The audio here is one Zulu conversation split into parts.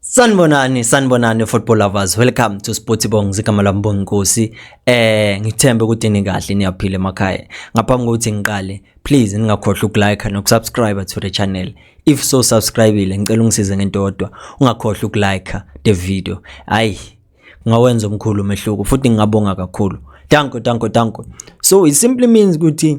Sanibonani sanibonani football lovers welcome to Sporty Bong zigama lami Bonginkosi eh ngithembe ukuthi nikahle niyaphila emakhaya ngaphambi kokuthi ngiqale please ningakhohlwa ukulike nokusubscribe to the channel if so subscribeile ngicela ungisize ngento yodwa ungakhohlwa ukulike the video hayi ngawenza omkhulu umehluko futhi ngingabonga kakhulu danko danko danko so it simply means ukuthi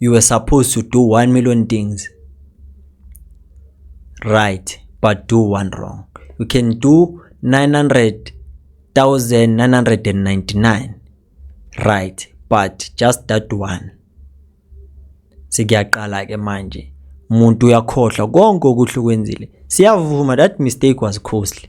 you were supposed to do 1 million things right but do one wrong you can do 900,999 right but just that one sekuyaqala ke manje umuntu uyakhohlwa konke okuhle kwenzile siyavuma that mistake was costly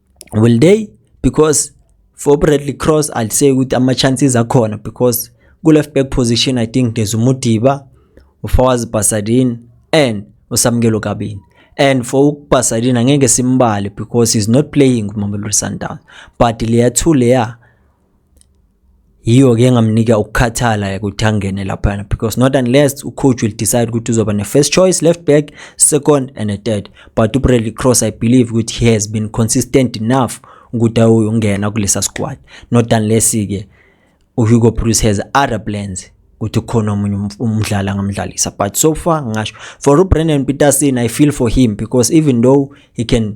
will they because for Bradley Cross I'd say ukuthi ama chances akhona because ku left back position I think there's uMudiba uFawaz Basadin and uSamkelo Kabini and for uBasadin angeke simbale because he's not playing kuMamelodi Sundowns but leya two leya yiyo-ke engamnika ukukhathala ekuthangene laphana because not unless ucoach will decide ukuthi uzoba ne-first choice left back second and a third but ubradley cross i believe ukuthi he has been consistent enough ukuthi awuyongena kulesa squad not unless-ke uhugo bruce has other plans ukuthi khona omunye umdlali angamdlalisa but so far ngasho for ubrandon peterson i feel for him because even though he can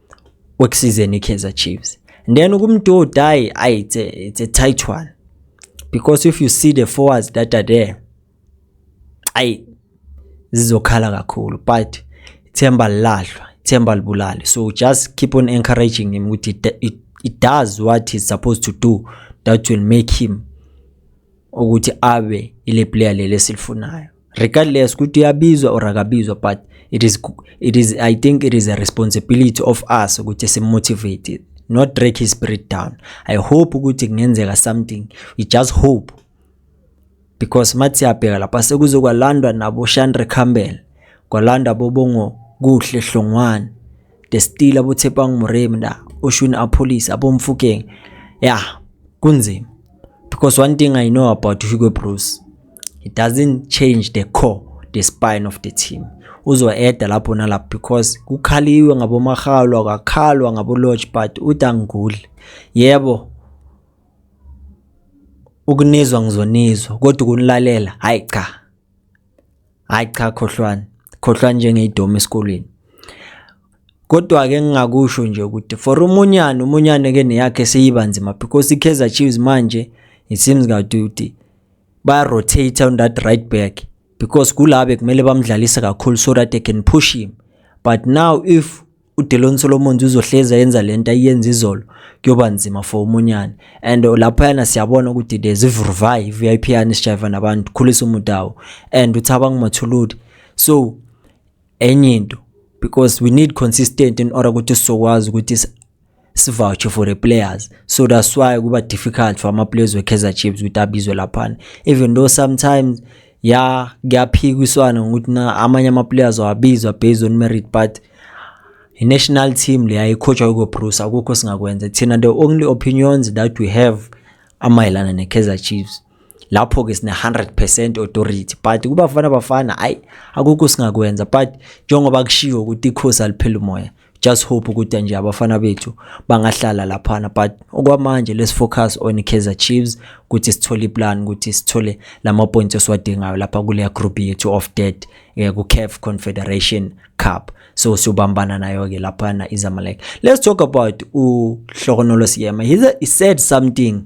wekusizeni iKaizer Chiefs then ukumdoda hayi ayi it's a, it's a tight one because if you see the forwards that are there ayi zizokhala kakhulu but ithemba lilahlwa ithemba libulale so just keep on encouraging him ukuthi it, it, it does what he's supposed to do that will make him ukuthi abe ile player leli esilifunayo regardless ukuthi uyabizwa or akabizwa but it is it is i think it is a responsibility of us ukuthi simotivate not break his spirit down i hope ukuthi kungenzeka something we just hope because mathi siyabheka lapha sekuzokwalandwa nabo Shandre Campbell kwalandwa bobongo kuhle hlongwane the still abo Tshepang Moremi na oshuni a police abo Mfokeng yeah kunzima because one thing I know about Hugo Broos he doesn't change the core the spine of the team uzoeda lapho nalapho because kukhaliwe ngabomahalo akakhalwa ngabolodge but udanguli yebo ukunizwa ngizonizwa kodwa ukunilalela hayi cha hayi cha khohlwani khohlwani njengeyidoma esikolweni kodwa ke ngingakusho nje ukuthi for umunyane umunyane ke neyakhe seyiba nzima because iKaizer Chiefs manje it seems ngathi ukuthi ba rotate on that right back because kulabe kumele bamdlalise kakhulu so that they can push him but now if uDelon Solomons uzohlezi ayenza lento ayenza izolo kuyoba nzima for umunyane and lapho yana siyabona ukuthi there's ivurvayi VIP yani sijayiva nabantu khulisa umuntu awo and uthaba ngumathuludi so enye into because we need consistent in order ukuthi sizokwazi ukuthi sivoucher for the players so that's why kuba difficult for ama-players we-kaizer chiefs ukuthi abizwe laphana even though sometimes ya kuyaphikiswana ngokuthi na amanye ama-players awabizwa based on merit but i-national team leya ikhotshwa ukobruce akukho singakwenza thina the only opinions that we have amayelana ne-kaizer chiefs lapho-ke sine-100 percent authority but kubafana bafana ayi akukho singakwenza but njengoba kushiwo ukuthi ikhosi aliphela umoya just hope ukuthi nje abafana bethu bangahlala laphana but okwamanje let's focus on Kaizer Chiefs ukuthi sithole iplan ukuthi sithole lama points esiwadingayo lapha kule group yethu of dead eh, ku CAF Confederation Cup so siyobambana nayo ke lapha na iZamalek let's talk about u Hlokonolo Siyema he, he said something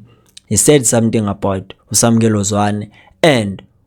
he said something about uSamkelo Zwane and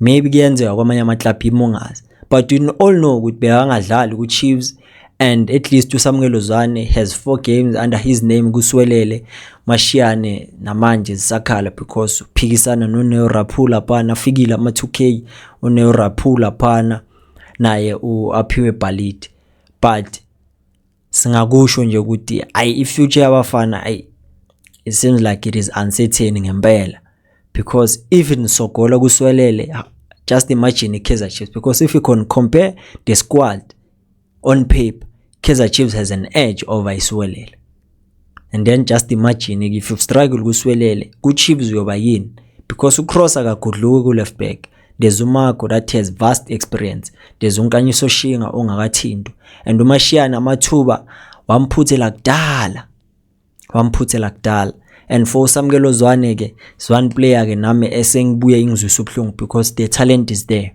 Maybe kuyenzeka kwamanye ama-club imungaze but we all know ukuthi bekangadlali ku-chiefs and at least usamukelo zwane has four games under his name kuswelele mashiyane namanje zisakhala because uphikisana noneo raphula phana afikile ama-2 k uneo raphula phana naye u-aphiwe bhalidi but singakusho nje ukuthi ayi i-future yabafana ayi it seems like it is uncertain ngempela because even sogola kuswelele just imagine i-kaizer chiefs because if you can compare the squad on paper kaizer chiefs has an edge over iswelele and then just imagine if you've struggled kuswelele kuchiefs uyoba yini because ucross akagodluki kuleft back there's umago that has vast experience there's unkanyiso shinga ongakathinto and umashiyana amathuba wamphuthela kudala wamphuthela kudala and for usamkelo zwane ke zwan player ke nami esengibuye ingizwisa ubuhlungu because the talent is there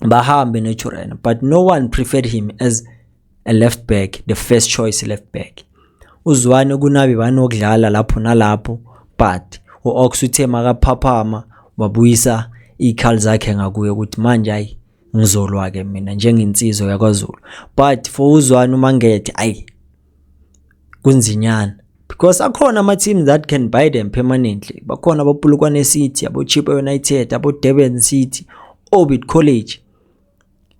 bahambe noTurena but no one preferred him as a left back the first choice left back uzwane kunabi banokudlala lapho nalapho but u-ox uthe makaphaphama wabuyisa iy'khali zakhe ngakuye ukuthi manje hayi ngizolwa-ke mina njengensizwa yakwazulu but for uzwane umangethe ayi kunzinyana because akhona ama-team that can buy them permanently bakhona abopulukwane city abochipa united abodurban city orbit college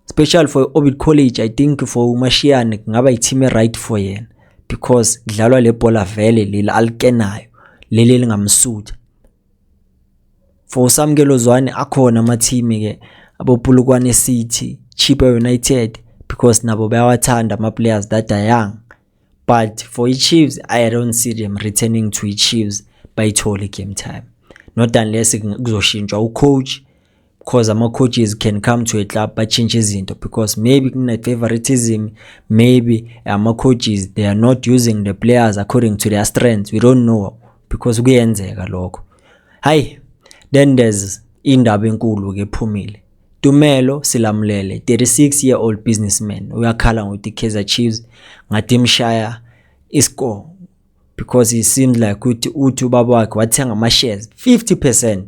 special for orbit college i think for umashiyane kungaba i-team e-right for yena because kudlalwa le bhola vele leli alikenayo leli elingamsutha for usamkelo zwane akhona amathimi ke abopulukwane city cheaper united because nabo bayawathanda ama-players that are young but for i-chiefs i don't see them returning to i-chiefs bayithole game time not unless kuzoshintshwa ucoach because ama-coaches can come to a club batshintshe izinto because maybe kune-favoritism maybe ama-coaches they are not using the players according to their strengths we don't know because kuyenzeka lokho hayi then there's indaba enkulu-ke ephumile Tumelo Silamulele 36 year old businessman uyakhala ngokuthi Kaizer Chiefs ngathi imshaya iscore because he seemed like ukuthi uthi ubaba wakhe wathenga ama shares 50%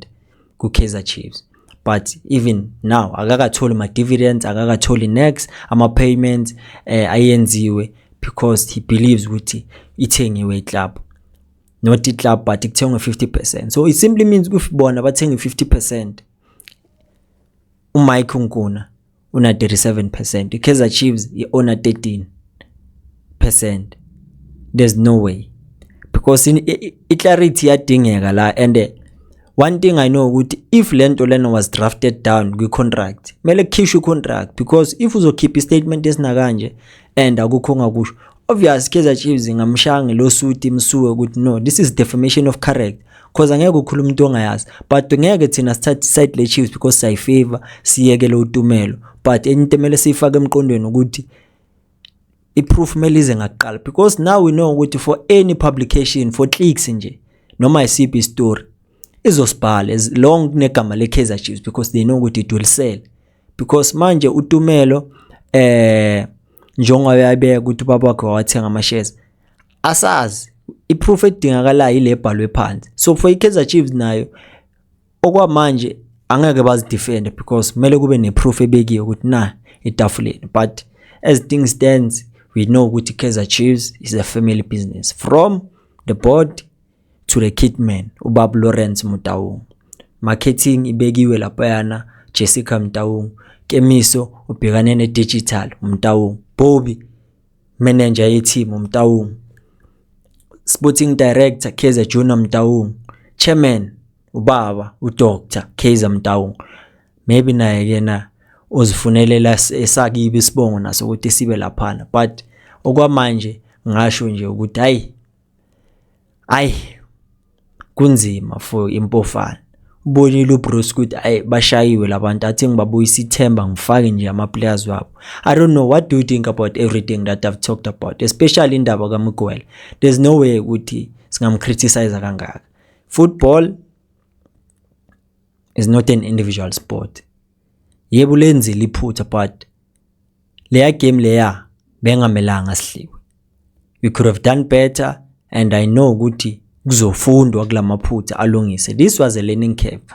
ku Kaizer Chiefs but even now akakatholi ma dividends akakatholi next ama payments eh, ayenziwe because he believes ukuthi ithengiwe iclub not iclub but ikuthengwe 50% so it simply means ukuthi bona bathenga 50% uMike uNkuna una 37 percent ikaizer chiefs iona 13 percent there's no way because i-clarity yadingeka la and eh, one thing i know ukuthi if le nto lena was drafted down kwi-contract kumele kukhishwe i-contract because if uzokhipha i-statement esinakanje and akukho ongakusho Obvious Kaizer Chiefs ingamshaya ngelosuti imsuwe ukuthi no this is defamation of character cause angeke ukhuluma umuntu ongayazi but ngeke thina sithathe side le Chiefs because siyi favor siyeke lo utumelo but enye into emele siyifake emqondweni ukuthi iproof melize ngakuqala because now we know ukuthi for any publication for clicks nje noma isiphi istory izosibhala as long kunegama le Kaizer Chiefs because they know ukuthi it will sell because manje utumelo eh njengoba yabeka ukuthi ubaba wakhe wawathenga amashares asazi iproof edingakalayo ile bhalwe phansi so for ikaizer chiefs nayo okwamanje angeke bazidefende because kumele kube neproof ebekiwe ukuthi na etafuleni but as things stands we know ukuthi kaizer chiefs is a family business from the board to the kitman ubab Lawrence Mutaung marketing ibekiwe laphayana Jessica Mtaung Kemiso ubhekane ne digital Mtaung Bobby manager ye team Mtaung sporting director Kaizer Junior Mtaung chairman ubaba udoctor Kaizer Mtaung maybe naye ke na ozifunelela esakibe isibongo naso ukuthi sibe laphana but okwamanje ngasho nje ukuthi hayi ayi kunzima for impofana ubonile uBruce ukuthi ay bashayiwe labantu athi ngibabuyisa ithemba ngifake nje ama players wabo i don't know what do you think about everything that i've talked about especially indaba kaMgwele there's no way ukuthi singamcriticize kangaka football is not an individual sport Yebo ulenzile iphutha but leya game leya bengamelanga sihliwe. We could have done better and I know ukuthi kuzofundwa kulamaphutha alungise. This was a learning curve.